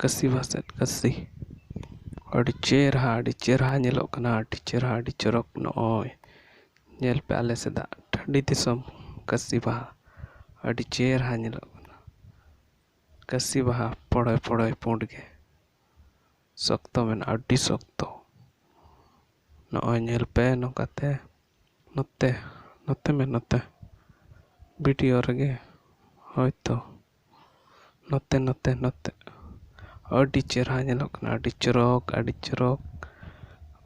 ᱠᱟᱹᱥᱤ ᱵᱟᱥᱠᱮ ᱠᱟᱹᱥᱤ ᱟᱹᱰᱤ ᱪᱮᱦᱨᱟ ᱟᱹᱰᱤ ᱪᱮᱦᱨᱟ ᱧᱮᱞᱚᱜ ᱠᱟᱱᱟ ᱟᱹᱰᱤ ᱪᱮᱦᱨᱟ ᱟᱹᱰᱤ ᱪᱚᱨᱚᱠ ᱱᱚᱜᱼᱚᱭ ᱧᱮᱞ ᱯᱮ ᱟᱞᱮ ᱥᱮᱫᱟᱜ ᱴᱟᱺᱰᱤ ᱫᱤᱥᱚᱢ ᱠᱟᱹᱥᱤ ᱵᱟᱦᱟ ᱟᱹᱰᱤ ᱪᱮᱦᱨᱟ ᱧᱮᱞᱚᱜ ᱠᱟᱱᱟ ᱠᱟᱹᱥᱤ ᱵᱟᱦᱟ ᱯᱚᱲᱚᱭ ᱯᱚᱲᱚᱭ ᱯᱩᱸᱰ ᱜᱮ ᱥᱚᱠᱛᱚ ᱢᱮᱱᱟᱜᱼᱟ ᱟᱹᱰᱤ ᱥᱚᱠᱛᱚ ᱱᱚᱜᱼᱚᱭ ᱧᱮᱞ ᱯᱮ ᱱᱚᱝᱠᱟᱛᱮ ᱱᱚᱛᱮ ᱱᱚᱛᱮ ᱢᱮ ᱱᱚᱛᱮ ᱵᱷᱤᱰᱤᱭᱳ ᱨᱮᱜᱮ ᱦᱳᱭ ᱛᱚ ᱱᱚᱛᱮ ᱱᱚᱛᱮ ᱱᱚᱛᱮ ᱟᱹᱰᱤ ᱪᱮᱦᱨᱟ ᱧᱮᱞᱚᱜ ᱠᱟᱱᱟ ᱟᱹᱰᱤ ᱪᱚᱨᱚᱠ ᱟᱹᱰᱤ ᱪᱚᱨᱚᱠ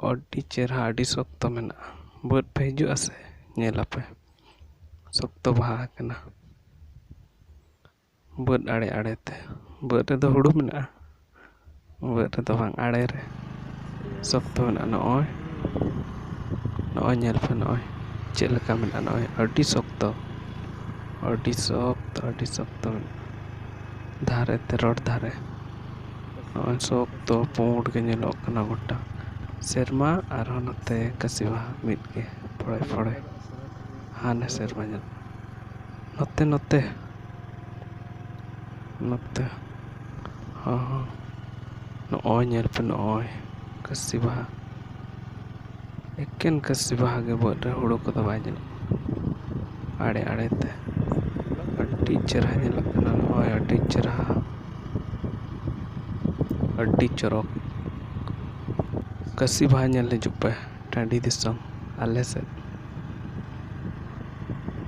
ᱟᱹᱰᱤ ᱪᱮᱦᱨᱟ ᱟᱹᱰᱤ ᱥᱚᱠᱛᱚ ᱢᱮᱱᱟᱜᱼᱟ ᱵᱟᱹᱫᱽ ᱯᱮ ᱦᱤᱡᱩᱜ ᱟᱥᱮ ᱧᱮᱞ ᱟᱯᱮ ᱥᱚᱠᱛᱚ ᱵᱟᱦᱟ ᱟᱠᱟᱱᱟ ᱵᱟᱹᱫᱽ ᱟᱲᱮ ᱟᱲᱮᱛᱮ ᱵᱟᱹᱫᱽ ᱨᱮᱫᱚ ᱦᱩᱲᱩ ᱢᱮᱱᱟᱜᱼᱟ ᱵᱷᱩᱜᱟᱹᱜ ᱨᱮᱫᱚ ᱵᱟᱝ ᱟᱲᱮ ᱨᱮ ᱥᱚᱠᱛᱚ ᱢᱮᱱᱟᱜᱼᱟ ᱱᱚᱜᱼᱚᱭ ᱱᱚᱜᱼᱚᱭ ᱧᱮᱞ ᱯᱮ ᱱᱚᱜᱼᱚᱭ ᱪᱮᱫ ᱞᱮᱠᱟ ᱢᱮᱱᱟᱜᱼᱟ ᱱᱚᱜᱼᱚᱭ ᱟᱹᱰᱤ ᱥᱚᱠᱛᱚ ᱟᱹᱰᱤ ᱥᱚᱠᱛᱚ ᱟᱹᱰᱤ ᱥᱚᱠᱛᱚ ᱢᱮᱱᱟᱜᱼᱟ ᱫᱷᱟᱨᱮ ᱛᱮ ᱨᱚᱰ ᱫᱷᱟᱨᱮ ᱱᱚᱜᱼᱚᱭ ᱥᱚᱠᱛᱚ ᱯᱩᱸᱰ ᱜᱮ ᱧᱮᱞᱚᱜ ᱠᱟᱱᱟ ᱜᱚᱴᱟ ᱥᱮᱨᱢᱟ ᱟᱨᱦᱚᱸ ᱱᱚᱛᱮ ᱠᱟᱹᱥᱤ ᱵᱟᱦᱟ ᱢᱤᱫ ᱜᱮ ᱯᱷᱚᱲᱮ ᱯᱷᱚᱲᱮ ᱦᱟᱱᱮ ᱥᱮᱨᱢᱟ ᱧᱮᱞᱚᱜ ᱱᱚᱛᱮ ᱱᱚᱛᱮ ᱱᱚᱛᱮ ᱦᱚᱸ ᱱᱚᱜᱼᱚᱭ ᱧᱮᱞ ᱯᱮ ᱱᱚᱜᱼᱚᱭ ᱠᱟᱹᱥᱤ ᱵᱟᱦᱟ ᱮᱠᱮᱱ ᱠᱟᱹᱥᱤ ᱵᱟᱦᱟ ᱜᱮ ᱵᱟᱹᱫᱽ ᱨᱮ ᱦᱩᱲᱩ ᱠᱚᱫᱚ ᱵᱟᱭ ᱧᱮᱞᱚᱜ ᱠᱟᱱᱟ ᱟᱲᱮ ᱟᱲᱮ ᱛᱮ ᱟᱹᱰᱤ ᱪᱮᱦᱨᱟ ᱧᱮᱞᱚᱜ ᱠᱟᱱᱟ ᱱᱚᱜᱼᱚᱭ ᱟᱹᱰᱤ ᱪᱮᱦᱨᱟ ᱟᱹᱰᱤ ᱪᱚᱨᱚᱠ ᱠᱟᱹᱥᱤ ᱵᱟᱦᱟ ᱧᱮᱞ ᱦᱤᱡᱩᱜ ᱯᱮ ᱴᱟᱺᱰᱤ ᱫᱤᱥᱚᱢ ᱟᱞᱮ ᱥᱮᱫ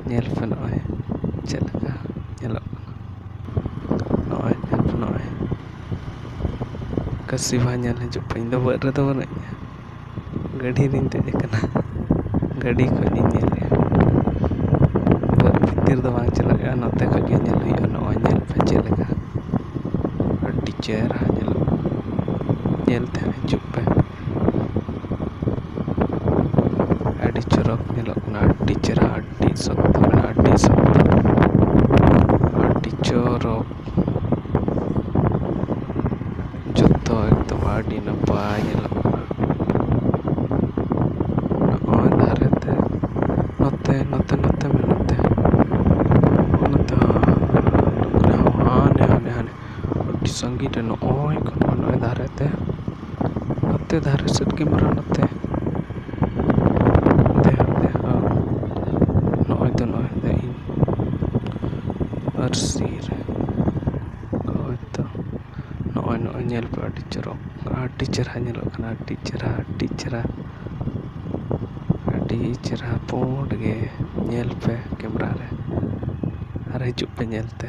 ᱧᱮᱞ ᱯᱮ ᱱᱚᱜᱼᱚᱭ ᱪᱮᱫ ᱞᱮᱠᱟ ᱧᱮᱞᱚᱜ ᱠᱟᱱᱟ ᱱᱚᱜᱼᱚᱭ ᱧᱮᱞ ᱯᱮ ᱱᱚᱜᱼᱚᱭ ᱠᱟᱹᱥᱤ ᱵᱟᱦᱟ ᱧᱮᱞ ᱦᱤᱡᱩᱜ ᱯᱮ ᱤᱧᱫᱚ ᱵᱟᱹᱫᱽ ᱨᱮᱫᱚ ᱵᱟᱹᱱᱩᱧᱟ ᱜᱟᱹᱰᱤ ᱨᱤᱧ ᱫᱮᱡ ᱠᱟᱱᱟ ᱜᱟᱹᱰᱤ ᱠᱷᱚᱱ ᱤᱧ ᱧᱮᱞᱮᱫᱼᱟ ᱵᱟᱹᱫᱽ ᱵᱷᱤᱛᱤᱨ ᱫᱚ ᱵᱟᱝ ᱪᱟᱞᱟᱜ ᱦᱩᱭᱩᱜᱼᱟ ᱱᱚᱛᱮ ᱠᱷᱚᱱ ᱜᱮ ᱧᱮᱞ ᱦᱩᱭᱩᱜᱼᱟ ᱱᱚᱜᱼᱚᱭ ᱧᱮᱞ ᱯᱮ ᱪᱮᱫ ᱞᱮᱠᱟ ᱟᱹᱰᱤ ᱪᱮᱦᱨᱟ ᱧᱮᱞᱚᱜᱼᱟ ᱧᱮᱞ ᱛᱮ ᱦᱤᱡᱩᱜ ᱯᱮ ᱟᱹᱰᱤ ᱪᱚᱨᱚᱠ ᱧᱮᱞᱚᱜ ᱠᱟᱱᱟ ᱟᱹᱰᱤ ᱪᱮᱦᱨᱟ ᱟᱹᱰᱤ ᱥᱚᱠᱛᱚ ᱢᱮᱱᱟᱜᱼᱟ ᱟᱹᱰᱤ ᱥᱚᱠᱛᱚ ᱟᱹᱰᱤ ᱪᱚᱨᱚᱠ ᱡᱚᱛᱚ ᱮᱠᱫᱚᱢ ᱟᱹᱰᱤ ᱱᱟᱯᱟᱭ ᱧᱮᱞᱚᱜ ᱠᱟᱱᱟ ᱱᱚᱜᱼᱚᱭ ᱫᱷᱟᱨᱮ ᱛᱮ ᱱᱚᱛᱮ ᱱᱚᱛᱮ ᱱᱚᱛᱮ ᱢᱮᱱᱟᱜ ᱛᱮ ᱱᱚᱛᱮ ᱦᱚᱸ ᱦᱟᱱᱮ ᱦᱟᱱᱮ ᱦᱟᱱᱮ ᱟᱹᱰᱤ ᱥᱟᱺᱜᱤᱧ ᱨᱮ ᱱᱚᱜᱼᱚᱭ ᱱᱚᱜᱼᱚᱭ ᱫᱷᱟᱨᱮ ᱛᱮ ᱱᱚᱛᱮ ᱫᱷᱟᱨᱮ ᱥᱮᱫ ᱜᱮ ᱢᱮᱱᱟᱜᱼᱟ ᱱᱚᱛᱮ ᱱᱚᱜᱼᱚᱭ ᱛᱚ ᱱᱚᱜᱼᱚᱭ ᱛᱚ ᱤᱧ ᱯᱟᱹᱨᱥᱤ ᱨᱮ ᱦᱳᱭ ᱛᱚ ᱱᱚᱜᱼᱚᱭ ᱱᱚᱜᱼᱚᱭ ᱧᱮᱞ ᱯᱮ ᱟᱹᱰᱤ ᱪᱚᱨᱚᱠ ᱟᱹᱰᱤ ᱪᱮᱦᱨᱟ ᱧᱮᱞᱚᱜ ᱠᱟᱱᱟ ᱟᱹᱰᱤ ᱪᱮᱦᱨᱟ ᱟᱹᱰᱤ ᱪᱮᱦᱨᱟ ᱟᱹᱰᱤ ᱪᱮᱦᱨᱟ ᱯᱩᱸᱰ ᱜᱮ ᱧᱮᱞ ᱯᱮ ᱠᱮᱢᱮᱨᱟ ᱨᱮ ᱟᱨ ᱦᱤᱡᱩᱜ ᱯᱮ ᱧᱮᱞ ᱛᱮ